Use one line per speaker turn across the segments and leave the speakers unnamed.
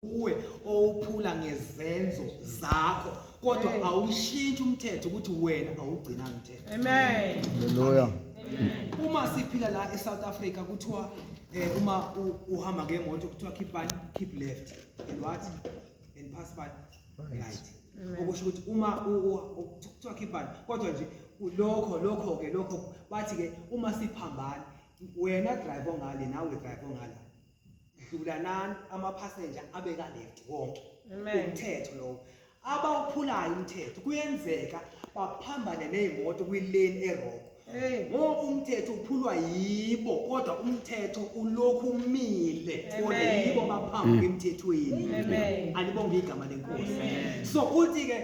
uwe owuphula ngezenzo zakho kodwa awushintshi umthetho ukuthi wena awugcina mthetho amen haleluya
uma
siphila la eSouth Africa kuthiwa eh, uma uhamba ngemoto kuthiwa keep right keep left and what and pass by right okusho ukuthi uma kuthiwa keep right kodwa nje lokho lokho ke lokho bathi ke uma siphambana wena drive ongale nawe drive ongala dlulanani amaphasenja abeka left wonke umthetho lowo abawuphulayo umthetho kuyenzeka baphambane nezimoto kwilane eroko ngoba umthetho uphulwa yibo kodwa umthetho ulokhu umile kodwa yibo baphambi emthethweni alibonge igama lenkosi so uthi ke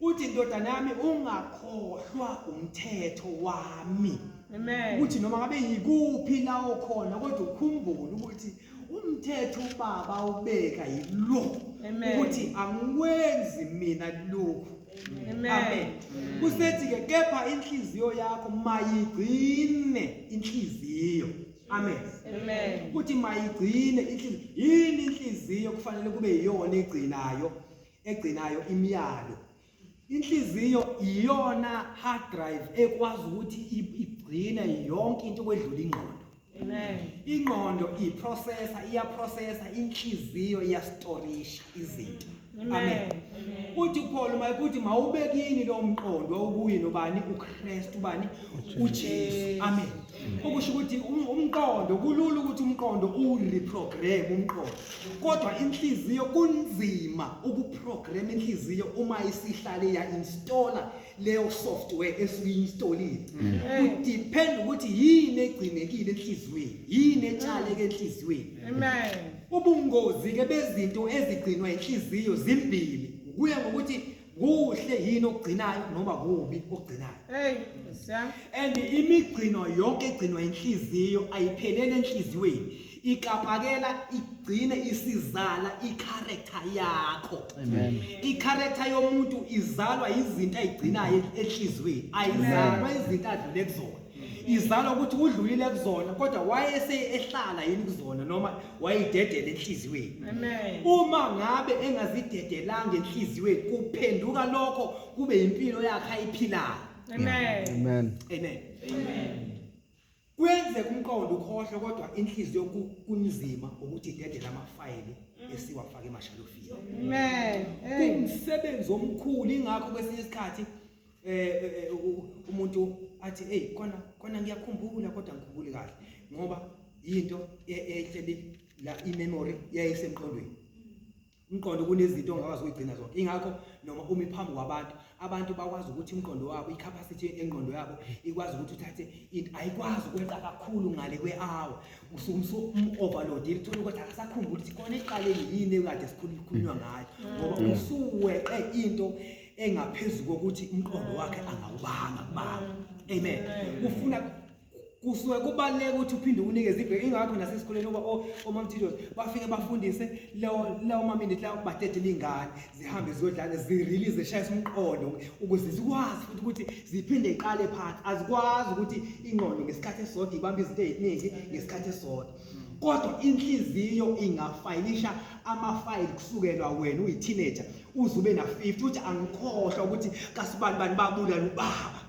uthi ndodana yami ungakhohlwa umthetho wami amen ukuthi noma ngabe yikuphi la okhona kodwa ukhumbule ukuthi umthetho ubaba ubeka yilo ukuthi angikwenzi mina lokhu amen kusethi ke kepha inhliziyo yakho mayigcine inhliziyo amen amen ukuthi mayigcine inhliziyo yini inhliziyo kufanele kube yiyona egcinayo egcinayo imiyalo inhliziyo iyona hard drive ekwazi ukuthi igcine yonke into kwedlula ingqondo amen ingqondo iprocessor iyaprocessor inhliziyo iyastorisha izinto amen uthi Paul uma ukuthi mawubekini lo mqondo okuyi nobani uKristu bani uJesu amen okusho ukuthi um- umqondo kulula ukuthi umqondo uwureprogram umqondo kodwa inhliziyo kunzima ukuprogram inhliziyo uma isihlale ya-installa leyo software esuke i-installile kudepend ukuthi yini egcinekile enhliziyweni yini etshaleke enhliziyweni Amen. ubungozi-ke bezinto ezigcinwa inhliziyo zimbili kuya ngokuthi kuhle yini okugcinayo noma kubi okugcinayo hey siyami and imigcino yonke egcinwa inhliziyo ayiphelele enhliziyweni ikapakela igcine isizala icharacter yakho amen icharacter yomuntu izalwa izinto ayigcinayo enhliziyweni ayizalwa izinto adlule kuzona izalwa ukuthi udlulile kuzona kodwa wayese ehlala yini kuzona noma wayidedela enhliziyweni uma ngabe engazidedelanga enhliziyweni kuphenduka lokho kube impilo yakhe ayiphilayo amen amen amen amen kwenzeka umqondo ukhohlwe kodwa inhliziyo kunzima ukuthi idedele amafayili mm. esiwafaka emashalofini amen umsebenzi omkhulu ingakho kwesinye isikhathi eh, eh, eh umuntu athi hey kona kona ngiyakhumbula kodwa ngikhumbuli kahle ngoba into ehleli la imemory yayisemqondweni umqondo kunezinto ongakwazi ukugcina zonke ingakho noma umi phambi kwabantu abantu bakwazi ukuthi umqondo wabo icapacity engqondo yabo ikwazi ukuthi uthathe into ayikwazi ukweqa kakhulu ngale kwe-hour usumsu um-overload ilithole ukuthi akasakhumbuli ukuthi khona iqaleni yini ekade sikhulunywa ngayo ngoba mm. usuweqe into engaphezulu kokuthi umqondo wakhe angawubanga kubanga amen ufuna kusuke kubaluleke ukuthi uphinde unikeze ibheke ingakho nasesikoleni oba omamthidos bafike bafundise lawo maminute lawo badedela iy'ngane zihambe ziyodlala zirelease zishayise umqondo ukuze zikwazi futhi ukuthi ziphinde iqale phansi azikwazi ukuthi ingqondo ngesikhathi esisodwa ibambe izinto ey'ningi ngesikhathi esisodwa kodwa inhliziyo ingafayilisha amafayili kusukelwa wena uyi-teenager uze ube na-50 ukuthi angikhohlwa ukuthi kasibani bani babulala ubaba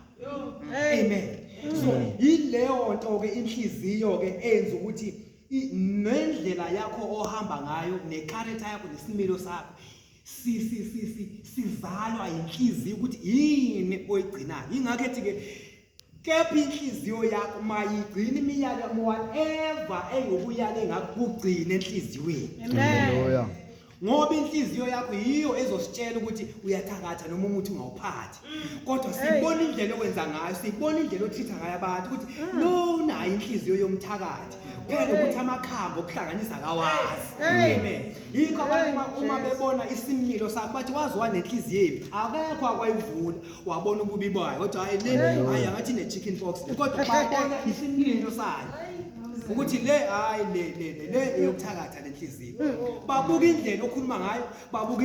amen so yileyo nto-ke inhliziyo-ke eyenza ukuthi nendlela yakho ohamba ngayo nekharetha yakho nesimilo sakho sizalwa yinhliziyo ukuthi yini oyigcinayo yingakho ethi-ke Kepha inhliziyo yakho mayigcine imiyalelo whatever engokuyale ngakugcina enhliziyweni. Haleluya.
Ngoba
inhliziyo yakho yiyo ezositshela ukuthi uyathakatha noma umuthi ungawuphathi. Kodwa sibona indlela owenza ngayo, sibona indlela othitha ngayo abantu ukuthi lo unayo inhliziyo yomthakathi. Phela ukuthi amakhambi okuhlanganisa kawazi. Amen. Yikho abantu uma- uma bebona isimilo sakho bathi waziwa nenhliziyo embi. Akekho akwayivula. wabona ububi bayo kodwa hayi le hayi angathi ne chicken pox kodwa babona isimilo sayo ukuthi le hayi le le le eyokuthakatha lenhliziyo babuka indlela okhuluma ngayo babuka